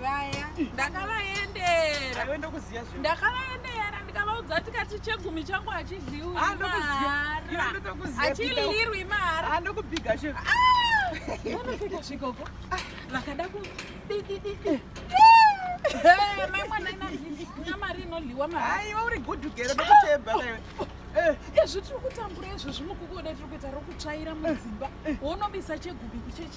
vaya ndakavaendera ndakavaendera ndikavaudza kuti kati chegumi changu hachidliwi ah, maharaachilirwi maharaanofikasvikoko ah! ah, vakada kudidididi mai mwana ina mari inodliwa maaiwa uri gudugero ndokuteba ezvi tiri kutambura izvo zvimukukuda tiri kuita rokutsvaira mudzimba wonobisa chegumi kuchechi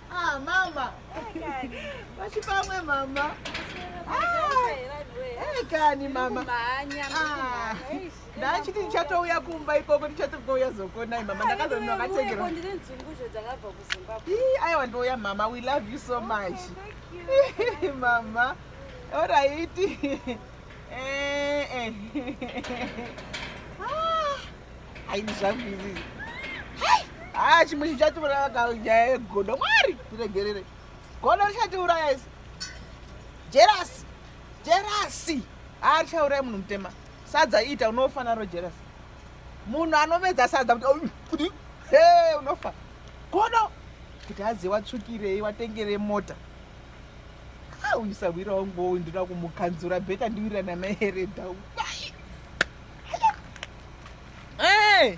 Ah, mama. Vachipamwe mama. Ekani mama. Ah. Ndachiti ndichatouya kumba ikoko ndichatogouya zokonai mama ndakazonwa katengera. Ii aiwa ndouya mama we love you so oh, much. Mama. All right. Eh eh. aidi zvangu izii haa ah, chimwe chichatiuraya ka nyaya yegodo mwari tiregerere godo richatiuraya isi jerasi jerasi haa ah, richauraya munhu mutema sadza ita unofa naro jerasi munhu anomedza sadza kuti he unofa godo kuti azive watsvukirei watengerei mota Ah, uyu sahwira wangu uyu ndinoda kumukanzura bheta ndiwira namaeredha uyu. Hey!